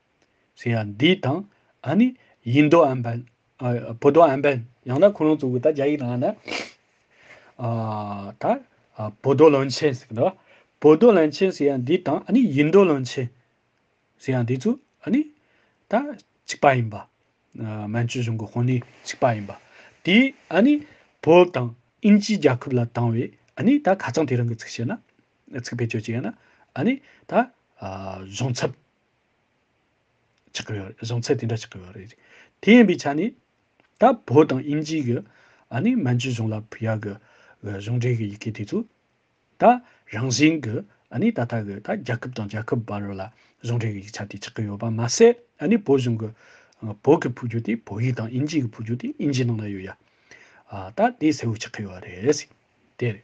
ཟེར་ཡ་འདི་དང་ཨ་ནི་ཡིན་མདོག་ཨན་པན་བོད་མདོག་ཨན་པན་ཡང་ན་ཁོ་རང་ཚོ་གི་ད་རྒྱ་ཡིག་དང་ཨ་ན་ཨ་ད་བོད་མདོག་ལོན་ཆེན་ཟེར་གི་འདུག་བོད་མདོག་ལོན་ཆེན་ཟེར་ཡ་འདི་དང་ཨ་ནི་ཡིན་མདོག་ལོན་ཆེན་ཟེར་ཡ་འདི་ཚོ་ཨ་ནི་ད་གཅིག་པ་ཡིན་པ་མན་ཇུ་གཞུང་གི་དཔོན་གནས་གཅིག་པ་ཡིན་པ་དེས་ཨ་ནི་བོད་དང་ཨིན་ཇིའི་རྒྱལ་ཁབ་ལ་བཏང་བས་ཨ་ནི་ད་ཁ་ཚང་དེ་རང་གི་ཚིག་བཤད་ན་ཚིག་བེད་སྤྱོད་བྱས་ན་ཨ་ནི་ད་གཞུང་ཚབ་ཆགས་ཀྱི་ཡོད་རེད། བཟང་ཚད་དེ་འདྲ་ཆགས་ཀྱི་ཡོད་རེད། དེ་ཡིན་པའི་ཆ་ནས། ད་བོད་དང་དབྱིན་ཇིའི་གི་ཨ་ནི་མན་ཇུ་གཞུང་ལ་བུད་ཡག་གི་གཞུང་འབྲེལ་གི་ཡི་གེ་དེ་ཚོ། ད་རང་བཞིན་གི་ཨ་ནི་ད་ལྟ་གི་ད་རྒྱ་ཁབ་དང་རྒྱ་ཁབ་བར་ལ་གཞུང་འབྲེལ་གི་ཡིག་ཆ་དེ་ཆགས་ཀྱི་ཡོད་པ་མ་ཟད་ཨ་ནི་བོད་གཞུང་གི། བོད་ཀྱི་ཕུགས་རྒྱུ་དེ་བོད་ཡིག་དང་དབྱིན་ཇིའི་གི་ཕུགས་རྒྱུ་དེ་དབྱིན་ཇིའི་ནང་ན་ཡོད་ཡ། ད་དེ་གསལ་བོ་ཆགས་ཀྱི་ཡོད་རེད། དེ་རེད།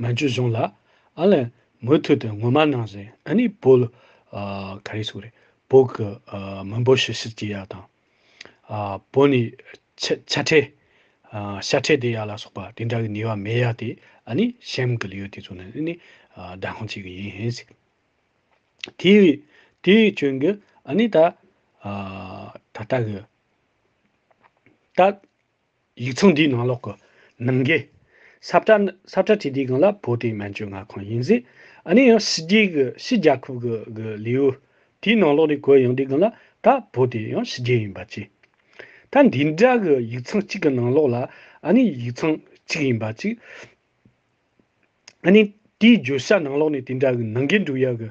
མན་ཇུ་གཞུང་ལ། ཨ་ལེ། མུ་མཐུད་དུ་ངོ་མ་ནང་བཞིན་ཨ་ནི་བོ། ག་རེ་སུ་རེད། བོ་གི། མི་འབོ་ཤི་ཤི་ཅི་ཡ་དང། བོ་ནི། ཆ་ཁྲེ། ཤ་ཁྲེ་དེ་ཡ་ལ་སོགས་པ་དེ་འདྲ་གི་ནི་བ་མེ་ཡ་དེ་ཨ་ནི་ཤེམ་གི་ལིའུ་དེ་ཚོ་ནི་ཨི་ནི། བདག་དབང་བྱེད་གི་ཡིན། དེ། དེ་བྱོན་གི་ཨ་ནི་ད། ད་ལྟ་གི། ད། ཡིག་ཚང་འདིའི་ནང་ལོགས་ཀྱི། ནང་དགེ། ས་བཀྲ་ནི། ས་བཀྲ་ཁྲི་ལྡེའི་སྒང་ལ་བོད་དེའི་སྨན་བཅོས་མངའ་ཁང་ཡིན་ཟེར། ཨ་ནི་ཡང་ཕྱི་རྒྱལ་གྱི་ཕྱི་རྒྱལ་ཁབ་ཀྱི་གི་ལེའུ། དེའི་ནང་ལོགས་ནས་གོ་ཡང་དེའི་སྒང་ལ་ད་བོད་དེ་ཡང་ཕྱི་རྒྱལ་ཡིན་པ་ཅི། ད་འདི་འདྲ་གི་ཡིག་ཚང་གཅིག་གི་ནང་ལོགས་ལ་ཨ་ནི་ཡིག་ཚང་གཅིག་ཡིན་པ་ཅི། ཨ་ནི་དེའི་བརྗོད་བྱ་ནང་ལོགས་ནས་དེ་འདྲ་གི་ནང་དགེ་འབྲུག་ཡག་གི།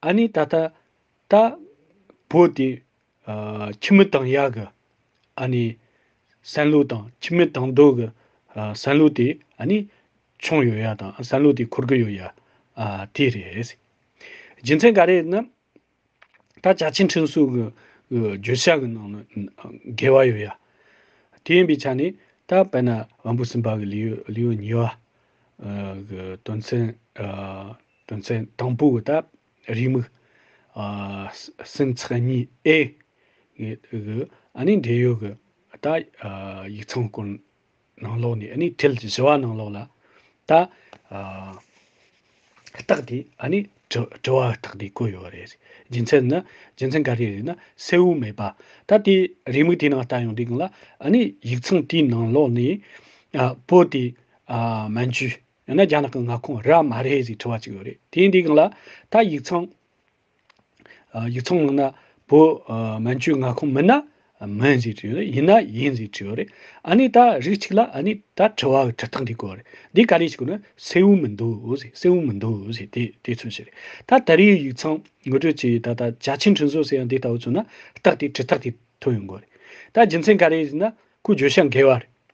ཨཱ་ནི་ད་ལྟ། ད། བོ་སྟེ། ཁྱིམ་མི་དང་ཡག་གི། ཨཱ་ནི། སན་ལུག་དང་ཁྱིམ་མི་དང་རྡོ་གི། སན་ལུག་དེ་ཨཱ་ནི། ཆུང་ཡོད་ཡ་དང་སན་ལུག་དེ་འཁོར་གི་ཡོད་ཡ། དེ་རེད། རྒྱུ་མཚན་ག་རེད་ན། ད་བྱ་ཆེན་ཁྲིན་སུག་གི། བརྗོད་བྱ་གི་ནང་ན། འགལ་བ་ཡོད་ཡ། དེ་ཡིན་པའི་ཆ་ནས། ད་བེ་ན། བམ་པོ་སིམ་པ་གི་ལེའུ་ཉི་བ། གི་དོན་ཚན། དོན་ཚན་དང་པོའི་བར་དག་རེའི་མིག། སེམས་ཚེགས་གཉིས་ཨེ། གི། ཨ་ནི་འབྲེལ་ཡོད་ཀྱི། ད། ཡིག་ཚང་སྐོར། ནང་ལོགས་ནས་ཨ་ནི་ཐལ་གྱི་བྱི་བ་ནང་ལོགས་ལ། ད། རྟགས་དེ་ཨ་ནི། དྲི་བ་རྟགས་དེ་བཀོད་ཡོད་རེད། རྒྱུ་མཚན་ནི། རྒྱུ་མཚན་ག་རེ་རེད་ན་གསལ་བོ་མེད་པ། ད་དེ་རེའི་མིག་དེའི་ནང་ལྟ་ཡོང་དུས་གང་ལ། ཨ་ནི་ཡིག་ཚང་དེའི་ནང་ལོགས་ནས། པོ་དེ། མན་ཇུའི། ཡང་ན་རྒྱ་ནག་གི་མངའ་ཁོངས་རེད་མ་རེད་ཞེས་དྲི་བ་གཅིག་ཡོད་རེད་དེ་ཡིན་དེ་གང་ལ་ད་ཡིག་ཚང། ཡིག་ཚང་མིན་ན་བོད་མན་ཇུའི་མངའ་ཁོངས་མིན་ན་མིན་ཞེས་དྲི་ཡོད་རེད་ཡིན་ན་ཡིན་ཞེས་དྲི་ཡོད་རེད་ཨ་ནི་ད་རིགས་གཅིག་ལ་ཨ་ནི་ད་དྲི་བ་འི་དྲི་སྟངས་འདི་གོ་རེད་འདི་ག་ལས་ཞིག་གོ་ན་སེའུ་མི་འདུག་ཞེས་སེའུ་མི་འདུག་ཞེས་དེ་དེ་མཚོན་བྱེད་རེད་ད་ད་རིའི་ཡིག་ཚང་ངོ་སྤྲོད་བྱེད་ད་ད་བྱ་ཆེན་འཕྲིན་བཟོ་ཟེར་ཡང་འདི་ལྟ་བུ་མཚོན་ན་རྟགས་དེ་དྲི་རྟགས་དེ་ཐོན་ཡོང་གོ་རེད་ད་རྒྱུ་མཚན་ག་རེ་ཞིག་ན་ཁོའི་བརྗོད་བྱ་འགལ་བ་རེད།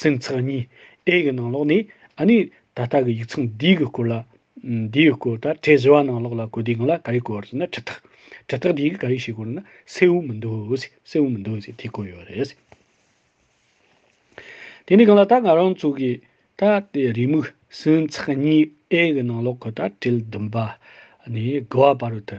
སེམས་ཚེགས་གཉིས་ཨེ་གི་ནང་ལོགས་ནས་ཨ་ནི་ད་ལྟ་གི་ཡིག་ཚང་འདིའི་གི་སྐོར་ལ་འདི་ཡི་སྐོར་ད་གྲས་བཞི་བ་ནང་ལོགས་ལ་གོ་དེའི་གི་ལ་ག་རེ་གོ་བར་ཟེར་ན་ཁྲི་ཐག་ཁྲི་ཐག་དེའི་གི་ག་རེ་ཞིག་གོ་རེ་ན་སེ་འུ་མི་འདུག་ཟེ་སེ་འུ་མི་འདུག་ཟེ་དེ་གོ་ཡོད་རེད། དེ་ནི་གི་ལ་ད་ང་རང་ཚོ་གི་ད་དེ་རེའི་མིག་སེམས་ཚེགས་གཉིས་ཨེ་གི་ནང་ལོགས་གི་ད་གྲིལ་བདུན་པ་ནས་གི་བ་བར་དུ།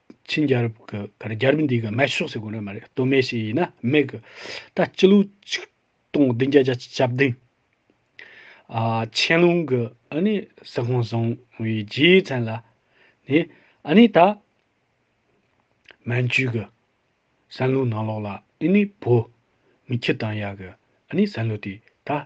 ཆིན་རྒྱལ་རབས་ཀྱི་སྐབས་རྒྱལ་རབས་འདིའི་སྐབས་སྨད་ཕྱོགས་སུ་གོ་ནི་མ་རེད་སྟོད་སྨད་ཞིག་ཡིན་ན་སྨད་གི། ད་སྤྱི་ལོ་ཆིག་སྟོང་བདུན་བརྒྱ་བརྒྱ་ཆ་བདུན། ཆན་ལུང་གི་ཨ་ནི་ཟི་ཧོང་བཟུང་བའི་རྗེའི་མཚན་ལ་ནི། ཨ་ནི་ད། མན་ཇུའི་གི། སན་ལུའུ་ནང་ལོགས་ལ་ཨི་ནི་བོ། མི་ཁྱི་དང་ཡ་གི་ཨ་ནི་སན་ལུའུ་དེ་ད།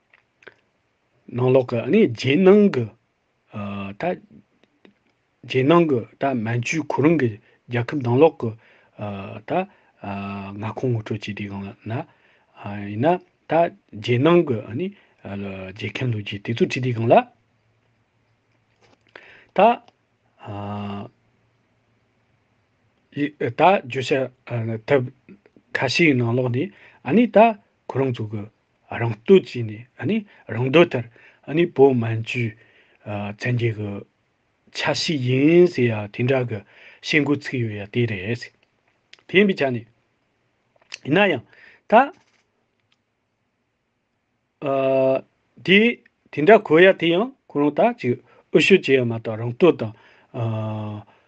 ནང་ལོག་གི་ནི་རྗེས་གནང་གི། ད། རྗེས་གནང་གི་ད་མན་ཇུའི་གོ་རིམ་གྱི་རྒྱལ་ཁབ་ནང་ལོག་གི། ད། མངའ་ཁོངས་ངོ་སྤྲོད་བྱས་དེའི་སྒང་ལ་ན། ཡིན་ན། ད། རྗེས་གནང་གི་ནི། རྗེས་ཁེངས་ལུགས་ཀྱི་དེ་ཚོ་བྲིས་དེའི་སྒང་ལ། ད། ད་བརྗོད་བྱ། ཐབས། ཁ་ཤས་ནང་ལོག་ནི། ཨ་ནི་ད། གོ་རིམ་ཚུགས། རང་བསྟོད་བྱས་ནས་ནི་རང་འདོད་ལྟར་ནི་བོད་སྨན་ཆུའི་ཚན་རྒྱལ་གྱི་ཆ་ཤས་ཡིན་ཟེར་ཡ་དེ་འདྲ་གི་བཤད་འགོ་ཚུགས་ཡོད་ཡ་དེ་རེད། དེ་ཡིན་པའི་ཆ་ནས་ཡིན་ན་ཡང་ད་དེ་དེ་འདྲ་གོ་ཡ་དེ་ཡང་ཁོ་རང་ད་ཅིག་ཨུ་ཤོད་བྱས་ཡ་མ་གཏོགས་རང་བསྟོད་དང།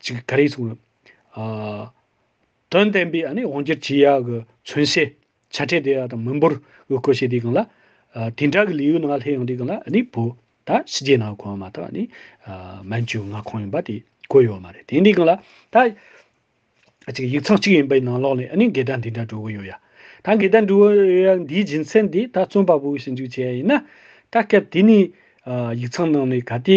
ཅིག་ག་རེ་གསུངས་ཡོད། དོན་བསྟན་པའི་དབང་གྱུར་གྱི་ཡ་གི་མཚོན་བྱེད་ཆ་འཕྲད་དེ་ཡ་དང་མི་འབོར་གི་གོ་ཤེས་དེ་གང་ལ། དེ་འདྲ་གི་ལས་ཡུལ་ནང་ལྷའི་དབྱངས་དེ་གང་ལ་ནི་བོད་ད་ཕྱི་རྒྱལ་ནང་གོ་བ་མ་ཐག་ནི་མན་ཇུ་མངའ་ཁོངས་ཡིན་པ་དེ་གོ་ཡོད་མ་རེད་དེ་འདི་གང་ལ། ད་ཅིག་ཡིག་ཚང་གཅིག་ཡིན་པའི་ནང་ལོགས་ནས་ནི་འགལ་ཟླ་འདི་འདྲ་འགྲོ་གི་ཡོད་ཡ། ད་འགལ་ཟླ་འགྲོ་གི་ཡོད་ཡ་འདིའི་རྒྱུ་མཚན་དེ་ད་བཙོན་པ་པོ་གི་ཞིབ་འཇུག་བྱས་ཡ་ཡིན་ན། ད་སྐབས་དེ་ནི་ཡིག་ཚང་ནང་ནས་ག་དེ་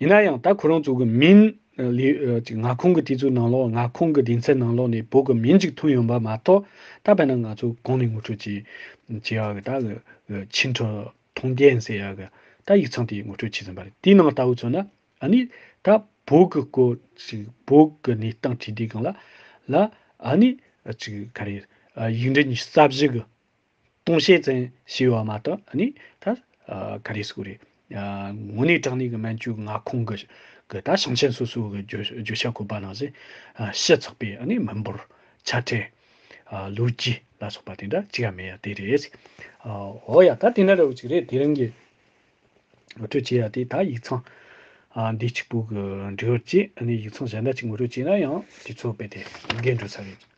ཡིན་ན་ཡང་ད་ཁོ་རང་ཚོ་གི་མིང། ལིའུ། ང་ཁོང་གི་དེ་ཚོའི་ནང་ལོགས་ང་ཁོང་གི་སྡེ་ཚན་ནང་ལོགས་ནས་བོད་ཀྱི་མིང་ཅིག་ཐོན་ཡོང་པ་མ་གཏོགས་ད་བས་ན་ང་ཚོ་གང་ནས་ངོ་སྤྲོད་བྱེད། བྱེད་ཡག་གི་ད་གི། ཕྱི་འཁྲུ། ཐུང་རྒན་ཟེར་ཡག་གི། ད་ཡིག་ཚང་དེ་ངོ་སྤྲོད་བྱེད་ཟིན་པ་རེད་དེའི་ནང་ལྟ་བུ་ཚོ་ན་ཨ་ནི། ད་བོད་ཀྱི་སྐོར། བོད་ཀྱི་གནས་སྟངས་ཁྲིད་དེ་གང་ལ། ལ། ཨ་ནི། ག་རེ། ཡིག་འབྲི་གཉིས་རྩ་བཞི་གི། ལྟུང་བྱེད་ཙམ་ཞེས་བ་མ་གཏོགས་ནི་ད་ག་རེ་སུ་རེད། ངོ་ནས་དྲང་ནས་གི་མན་ཇུ་མངའ་ཁོངས་ཀྱི་གི་ད་ཞིང་ཆེན་སོ་སོའི་གི་བརྗོད་བྱ་གོ་པ་ནང་བཞིན་ཤ་ཚགས་པའི་ནི་མི་འབོར། ཆ་འཕྲད། ལོ་རྒྱུས་ལ་སོགས་པ་དེ་འདྲ་ཅི་ཡང་མེད་ཡ་དེ་རེད། འོ་ཡ་ད་དེ་འདྲ་རེད་བ་ཅིག་རེད་དེ་རིང་གི་ངོ་སྤྲོད་བྱེད་ཡ་དེ་ད་ཡིག་ཚང་འདི་གཅིག་པུ་གི་འབྲེལ་བ་ཅིག་ནི་ཡིག་ཚང་གཞན་འདྲ་ཅིག་ངོ་སྤྲོད་བྱེད་ན་ཡང་དེ་ཚོ་རྦད་དེ་འགལ་འགྲོ་ས་རེད།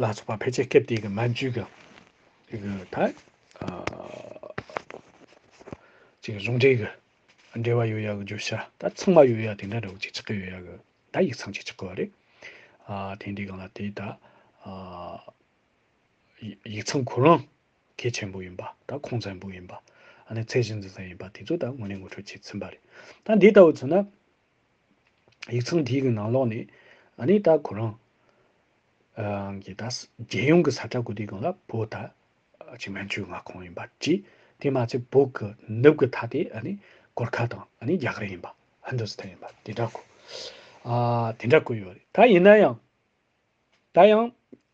ལ་སོགས་པ་ཕལ་ཆེར་སྐད་དེ་གི་མ་འཇུག་གི་དེ་གི་ད་ཅིག་གཟུང་འབྲེལ་གི་འབྲེལ་བ་ཡོད་ཡ་གི་བརྗོད་བྱ་ད་ཚང་མ་ཡོད་ཡ་དེ་འདྲ་རེ་བ་ཅིག་ཆགས་ཀྱི་ཡོད་ཡ་གི་ད་ཡིག་ཚང་ཅིག་ཆགས་གི་རེད། ཨ་དེ་འདྲའི་གང་ལ་དེ་ད་ཡིག་ཚང་གོ་རང་གལ་ཆེན་པོ་ཡིན་པ་ད་ཁོང་ཚན་པོ་ཡིན་པ་ཨ་ནི་ཚད་གཞི་འཛིན་ས་ཡིན་པ་དེ་ཚོ་ད་དངོས་གནས་ངོ་སྤྲོད་བྱས་ཚིན་པ་རེད། ད་འདི་ལྟ་བུ་ཚོ་ན་ཡིག་ཚང་དེའི་གི་ནང་ལོགས་ནས། ཨ་ནེ་ད་ཁོ་རང། རང་གི་ད། རྒྱལ་ཡོངས་གི་ས་ཁྲ་གུ་དེ་གང་ལ་བོ་ད། ཅིག་མན་ཆུའི་མངའ་ཁོངས་ཡིན་པ་གྱིས། དེ་མ་ཚད་བོད་གི་ནུབ་གི་ཐ་དེ་ཨ་ནེ། གོར་ཁ་དང་ཨ་ནེ་རྒྱ་གར་ཡིན་པ། ཧིན་དུ་སི་ཐན་ཡིན་པ་དེ་འདྲ་གོ། ཨ། དེ་འདྲ་གོ་ཡོད་རེད། ད་ཡིན་ན་ཡང། ད་ཡང།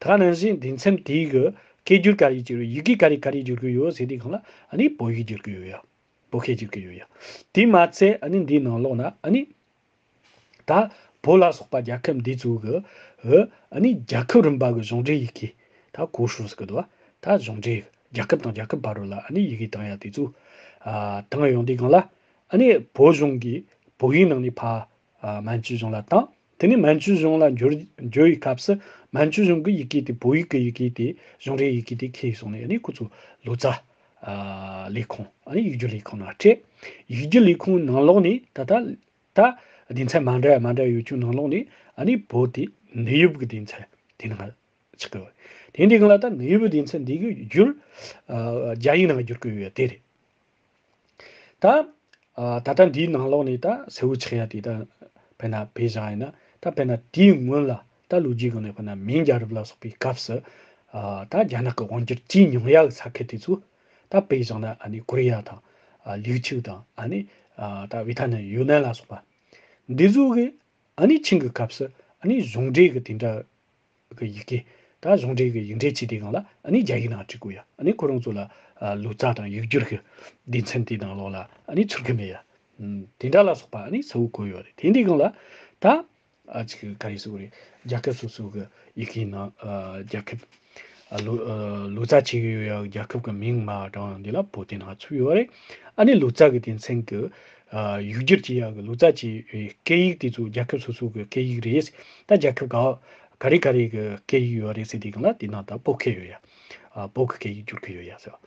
ད་ག་ནང་བཞིན་དེ་མཚམས་དེའི་གི་སྐད་སྒྱུར་ག་རེ་ཀྱི་ཡི་གེ་ག་རེ་ག་རེ་སྒྱུར་གི་ཡོད་ཟེར་དེ་གང་ལ་ཨ་ནི་བོད་ཡིག་སྒྱུར་གི་ཡོད་ཡ། བོད་སྐད་སྒྱུར་གི་ཡོད་ཡ། དེ་མ་ཚད་ཨ་ནི་འདིའི་ནང་ལོག་ན་ཨ་ནི། ད་བོད་ལ་སོགས་པ་རྒྱལ་ཁབ་འདི་ཚོའི་གི། ཨོ་ཨ་ནི་རྒྱལ་ཁབ་རིམ་པ་གི་གཞུང་འབྲེལ་ཡི་གེ། ད་གོ་ཧྲུལ་ཟེར་གི་འདུག་ད་གཞུང་འབྲེལ་རྒྱལ་ཁབ་དང་རྒྱལ་ཁབ་བར་རུ་ལ་ཨ་ནི་ཡི་གེ་བཏང་ཡ་དེ་ཚོའི། ཨ། བཏང་ཡོང་དེ་གང་ལ་ཨ་ནི་བོད་གཞུང་གི་བོད་ཡིག་ནང་ནས་ཕ། མན་ཇུ་གཞུང་ལ་བཏང། དེ་ནས་མན་ཇུ་གཞུང་ལ་འབྱོར་བའི་སྐབས་སུ་མན་ཇུ་གཞུང་གི་ཡི་གེ་དེ་བོད་ཡིག་གི་ཡི་གེ་དེ་གཞུང་རེའི་ཡི་གེ་དེ་ཁེལ་སོང་ནས་ཁོ་ཚོ་ལོ་ཙཱ། ལས་ཁུངས། ཡིག་རྒྱུགས་ལས་ཁུངས་ནང་སྤྲད། ཡིག་རྒྱུགས་ལས་ཁུངས་ནང་ལོགས་ནས་ད་ལྟ། སྡེ་ཚན་མ་འདྲ་མ་འདྲ་ཡོད་ཀྱང་ནང་ལོགས་ནས་བོད་དེ་ནུས་ཡོད་ཀྱི་སྡེ་ཚན་དེ་ནང་ཆགས་ཀྱི་ཡོད། དེ་འདི་ག་ལ་ད་ནུས་ཡོད་སྡེ་ཚན་འདི་གའི་རྒྱུར། རྒྱ་ཡིག་ནང་བསྒྱུར་གྱི་ཡོད་དེ་རེད། ད། ད་ལྟ་འདིའི་ནང་ལོགས་ནས་ད་སེ་བོ་ཆེ་ཡ་དེ་ད་བས་ན་བས་བཞག་ཡིན་ན་ད་བས་ན་དེའི་སྔོན་ལ་ད་ལོ་རྒྱུས་གང་ནས་བས་ན་མིང་རྒྱ་རབས་ལ་སོགས་པའི་སྐབས་སུ། ད་རྒྱ་ནག་གི་དབང་སྒྱུར་ཅི་མྱོང་ཡ་གི་ས་ཁད་དེ་ཚོ། ད་བས་བཞག་ན་ཨ་ནི་ཀོ་རི་ཡ་དང། ལིའུ་ཆིའུ་དང་ཨ་ནི། ད་བྷི་ཐ་ནན་ཡུ་ནན་ལ་སོགས་པ། འདི་ཚོ་གི་ཨ་ནི་ཆིང་གི་སྐབས་སུ་ཨ་ནི་གཞུང་འབྲེལ་གི་དེ་འདྲ། གི་ཡི་གེ། ད་གཞུང་འབྲེལ་གྱི་ཡིག་འབྲེལ་སྤྱི་དེ་གང་ལ་ནི་རྒྱ་ཡིག་ནང་བྲིས་དགོས་ཡ་ནི་ཁོ་རང་ཚོ་ལ་ལུགས་ཙག་དང་ཡིག་སྒྱུར་གྱི་སྡེ་མཚན་དེ་དང་ལོག་ལ་ནི་ཚུར་གི་མེད་ཡ། དེ་འདྲ་ལ་སོགས་པ་ནི་གསལ་བོ་གོ་ཡོད་རེད་དེ་འདི་གང་ལ་ད། ག་རེ་སོགས་རེད་རྒྱ་ཁབ་སོ་སོ་གི་ཡི་གེ་ནང་རྒྱ་ཁབ། ལུགས་ཙག་བྱས་ཡོད་ཡ་རྒྱ་ཁབ་གི་མིང་མ་གྲངས་འདི་ལ་བོད་དེ་ནང་ཚུད་ཡོད་རེད་ཨ་ནི་ལུགས་ཙག་གི་སྡེ་མཚན་གྱི་ཡུལ་སྒེར་གྱི་ཡང་ལུགས་རྩ་ཆེའི་སྐད་ཡིག་དེ་ཚོ་རྒྱལ་ཁབ་སོ་སོ་གི་སྐད་ཡིག་རེད། ད་རྒྱལ་ཁབ་གང་ག་རེ་ག་རེ་གི་སྐད་ཡིག་ཡོད་རེད་ཟེར་དེ་གི་ན་དེ་ནང་ད་སྤོ་ཁེ་ཡོད་ཡ། སྤོ་གི་སྐད་ཡིག་བསྒྱུར་གི་ཡོད་ཡ་ཟེར་བ།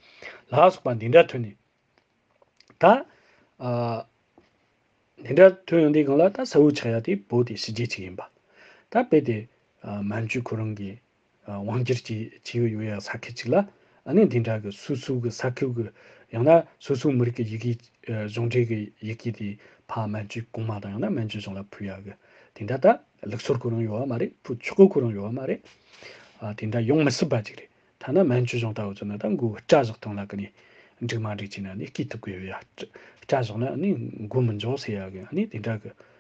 ལ་སོགས་པ་འདི་འདྲ་ཐོན་ནས། ད། འདི་འདྲ་ཐོན་ཡོང་དེ་གང་ལ་ད་ས་བོད་ཆགས་ཡ་དེ་བོད་དེ་ཕྱི་རྒྱལ་གཅིག་ཡིན་པ། ད་དཔེ་དེ། མན་ཇུ་ཁོ་རང་གི་དབང་སྒྱུར་གྱི་ཇི་ཡོད་ཡོད་ཡག་ས་ཁུལ་གཅིག་ལ་གནས་འདི་འདྲ་གི་སོ་སོའི་གི་ས་ཁུལ་གི་ཡང་ན་སོ་སོའི་མི་རིགས་གི་ཡི་གེ་གཞུང་འབྲེལ་གི་ཡི་གེ་དེ་ཕ་མན་ཇུའི་གོང་མ་དང་ཡང་ན་མན་ཇུའི་གཞུང་ལ་ཕུལ་ཡག་གི་དེ་འདྲ་ད་ལུགས་སོར་གོ་རང་ཡོད་ཡག་མ་རེད་ཕུ་ཆུ་གོ་གོ་རང་ཡོད་ཡག་མ་རེད་དེ་འདྲ་ཡོང་མི་སྲིད་པ་ཅིག་རེད་ཐ་ན་མན་ཇུའི་གཞུང་ད་འུ་ཚོ་ནི་ད་མགོ་བོ་སྐྲ་བཞག་སྟངས་ལ་གི་ནས་འགྲིག་མ་འགྲིག་ཅིག་ན་ནི་སྐྱིད་ཐུབ་གི་ཡོད་ཡག་སྐྲ་བཞག་ན་ནི་མགོ་མི་འཇོག་ཟེར་ཡག་གི་ནི་དེ་འདྲ་གི་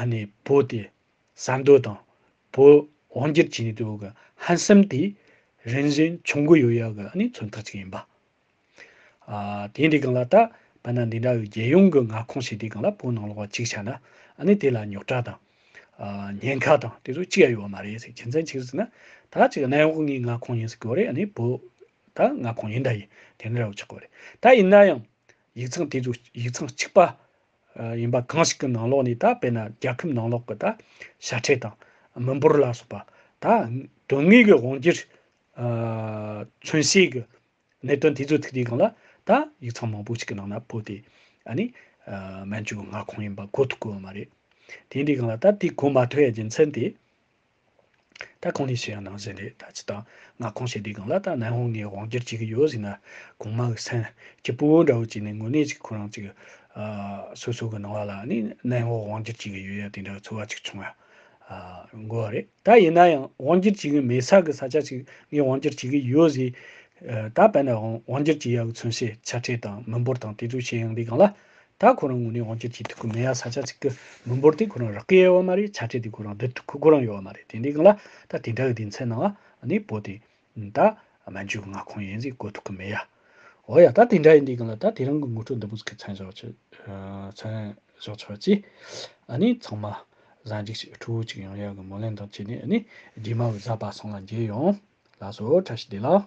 ཨ་ནེ་བོད་དེ་ཟ་འདོད་དང་བོད་དབང་སྒྱུར་བྱེད་ནུས་དེའོ་གི་ཧན་སེམས་དེ་རིན་བཞིན་ཆུང་གི་ཡོད་ཡག་གི་ཨ་ནེ་མཚོན་ཐག་ཅིག་ཡིན་པ། ཨ་དེ་འདྲའི་གང་ལ་ད་བལ་ན་འདི་འདྲ་བའི་རྒྱལ་ཡོངས་གི་མངའ་ཁོངས་ཞིག་དེ་གང་ལ་བོད་ནང་ལོག་པ་གཅིག་ཆགས་ན་ཨ་ནེ་དེ་ལ་ཉོག་དྲ་དང། ཉེན་ཁ་དང་དེ་ཚོ་གཅིག་ཡ་ཡོད་བ་མ་རེད་ཟེར་གྱི་མཚན་གཅིག་ཟེར་ན་ད་ཅིག་གནས་བབ་ངའི་མངའ་ཁོངས་ཡིན་ཟེར་གི་བ་རེད་ཨ་ནེ་བོད་ད་མངའ་ཁོངས་ཡིན་ད་ཡིན་དེ་འདྲ་བ་ཆགས་གི་བ་རེད་ད་ཡིན་ན་ཡང་ཡིག་ཚང་དེ་ཚོ་ཡིག་ཚང་གཅིག་པ་ཡིན་པ་གང་ཞིག་གི་ནང་ལོགས་ནས་ད་དཔེར་ན་རྒྱལ་ཁབ་ནང་ལོགས་ཀྱི་ད་ཤ་ཁྲེ་དང་མི་འབོར་ལ་སོགས་པ་ད་དོན་དངོས་ཀྱི་དབང་གིར་མཚོན་བྱེད་ཀྱི་གནད་དོན་དེ་ཚོའི་ཐིག་ལེ་གང་ལ་ད་ཡིག་ཚང་མང་པོ་ཞིག་གི་ནང་ན་བོད་དེ་ནི་མན་ཇུའི་མངའ་ཁོངས་ཡིན་པ་གོ་ཐུབ་དགོས་བ་མ་རེད། དེ་འདྲའི་གང་ལ་ད་དེ་གོ་མ་ཐུབ་བའི་རྒྱུ་མཚན་དེ། ད་གང་ནས་བྱེད་ཡང་ནང་བཞིན་རེད་ད་ཇི་ལྟར་ང་གང་བྱེད་དེ་གང་ལ་ད་ནན་ཧོང་ངའི་དབང་སྒྱུར་བྱེད་ཀྱི་ཡོད་ཟིག་ན་གང་མ་ཨུ་སན་གྱི་སྤུ་བོ་འདྲ་བོ་བྱས་ནས་དངོས་གནས་ཅིག་ཁོ་རང་ཅིག་སོ་སོ་གི་ནང་བ་ལ་ནི་ནན་ཧོ་དབང་སྒྱུར་བྱེད་ཀྱི་ཡོད་ཡ་དེ་འདྲ་བའི་ཚོར་བ་ཅིག་བྱུང་ཡ་དགོས་བ་རེད་ད་ཡིན་ན་ཡང་དབང་སྒྱུར་བྱེད་ཀྱི་མེད་ས་གི་ས་ཆ་ཅིག་ངས་དབང་སྒྱུར་བྱེད་ཀྱི་ཡོད་ཟིག་ད་བལ་ན་དབང་སྒྱུར་བྱེད་ཡ་གི་མཚོན་བྱེད་ཆ་ཁྲེལ་དང་མི་འབོར་དང་དེ་ཚོ་བྱེད་ཡང་དེ་གང་ལ་ད་ཁོ་རང་ངུ་ནས་འོང་ཁྱེད་ཀྱིས་ཐུག་གི་མི་ཡ་ས་ཆ་ཚིག་གི་མི་འབོར་དེ་ཁོ་རང་རག་གི་ཡའི་བ་མ་རེད་ཆ་ཁྲེ་དེ་ཁོ་རང་སྡུད་ཐུག་གི་གོ་རང་ཡོའ་བ་མ་རེད་དེ་འདི་གི་ལ་ད་དེ་འདྲ་གི་དེ་མཚན་ནང་བ་ནི་བོ་དེ་ད་མན་ཇུ་གི་མངའ་ཁོངས་ཡིན་ཟིག་གོ་ཐུག་གི་མི་ཡ། འོ་ཡ་ད་དེ་འདྲ་ཡིན་འདི་གི་ལ་ད་དེ་རང་གི་ངུ་ཁྲོ་འདི་བུ་ཚིག་གི་མཚན་བཞག་ཆེ་མཚན་བཞག་ཆེ་བ་ཅི་ཨ་ནི་ཚང་མ་བཟའ་འཇིགས་ཤིག་ཕྲུ་བུ་ཅིག་ཡང་ཡག་གི་མོ་ལེན་དང་བྱས་ནས་ཨ་ནི་རྗེས་མ་བཟའ་པ་སོང་ལ་འཇལ་ཡོང་ལགས་སོ་ཁྲ་ཤི་དེ་ལ།